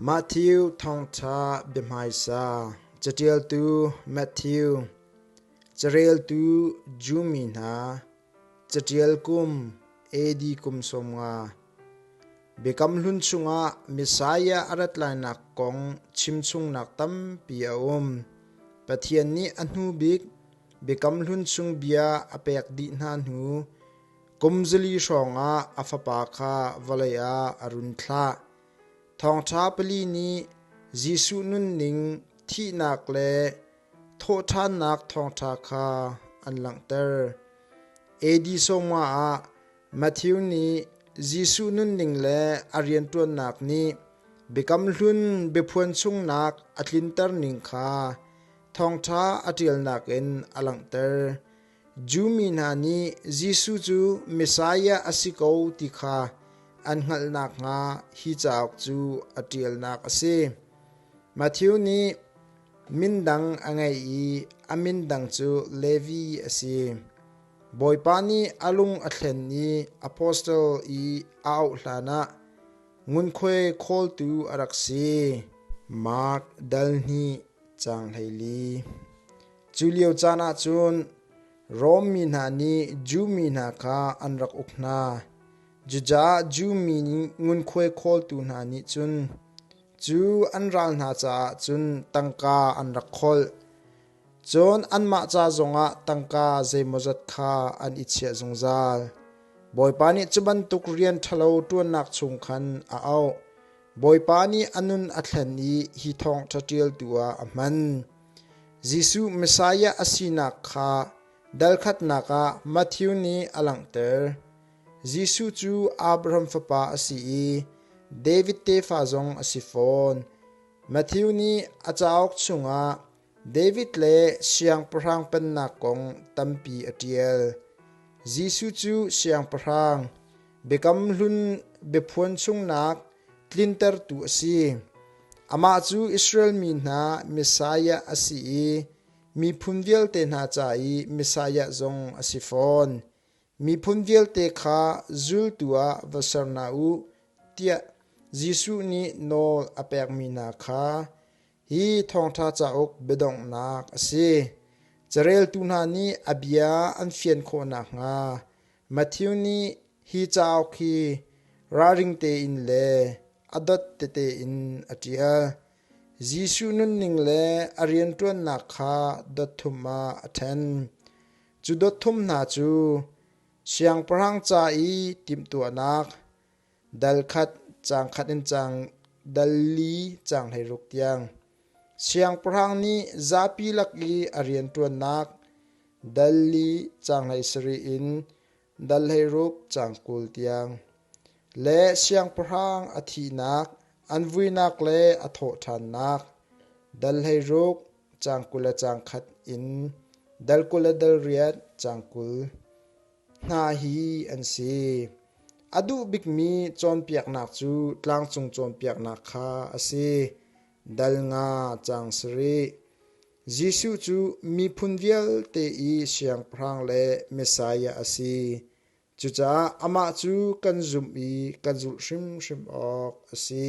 Matthew thawngṭha biahmaisa caṭialtu Matthew, careltu Jew mi hna, caṭial kum AD kum sawmnga, Biakam Hlun chungah Messiah a rat lainak kong chimchungnak tampi a um. Pathian nih a hnu bik Biakam Hlun chung bia a pek dih hna hnu kum zali hrawngah a fapa kha vawlei ah a run thlah. Thawngṭha pali nih Jesuh nunning, thihnak le thawhṭhannak thawngṭha kha an langhter. Edisoma ah Matthew nih Jesuh nunning le a rianṭuannak nih Biakam Hlun biaphuan sungnak a tlinter ning kha thawngṭha a ṭialnak in a langhter. Jew mi hna nih Jesuh cu Messiah a si ko ti kha an hngalh nakhnga hi cauk cu a ṭialnak a si. Matthew nih min dang a ngei i a min dang cu Levi a si. Bawipa nih a lung a thlen i apostel i a auh hlanah ngunkhuai khawltu a rak si. Mark dal hnih, Caang hlei li. Cu lio caan ah cun Rom mi hna nih Jew mi hna kha an rak uk hna. Cucaah Jew mi ngunkhuai khawltu hna nih cun cu an ral hna caah cun tangka an rak kholh. Cun anmah ca zongah tangka zeimawzat kha an i chiah zungzal. Bawipa nih cu bantuk rian ṭhalo ṭuannak chung khan a auh. Bawipa nih a nun a thlen i hi thawng ṭhaṭialtu ah a hman. Jesuh Messiah a sinak kha dalkhatnak ah Matthew nih a langhter. Jesuh cu Abraham fapa a si i David tefa zong a si fawn. Matthew nih a cauk chungah David le siangpahrang pennak kong tampi a ṭial. Jesuh cu siangpahrang, biakam hlun biaphuan chungnak tlintertu a si. Amah cu Israel mi hna Messiah a si i miphun vialte hna ca i Messiah zong a si fawn. Miphun vialte kha zultu ah va ser hna u tiah Jesuh nih nawl a pekmi hna kha Hi thawngṭha cauk biadonghnak a si: Careltu hna nih a bia an fian khawh nakhnga Matthew nih hi cauk hi ralring tein le a dot tete in a ṭial. Jesuh nunning le a rianṭuannak kha dot thum ah a ṭhen. Cu dot thum hna cu siangpahrang ca i timhtuahnak, Dal khat, caang khat in caang dal li caang hleiruk tiang. Siangpahrang nih zapi lak i a rianṭuannak dal li caang hleisarih in dal hleiruk caang kul tiang. Le siangpahrang a thihnak, an vuinak le a thawhṭhannak dal hleiruk caang kul le caang khat in dal kul le dal riat caang kul. hna hi an si. A duh bikmi cawnpiaknak cu tlangcung cawnpiaknak kha a si. Dal nga cang sarih. Jesuh cu miphun vialte i siangpahrang le Messiah a si. Cucaah amah cu kan zumh i kan zulh hrimhrim awk a si.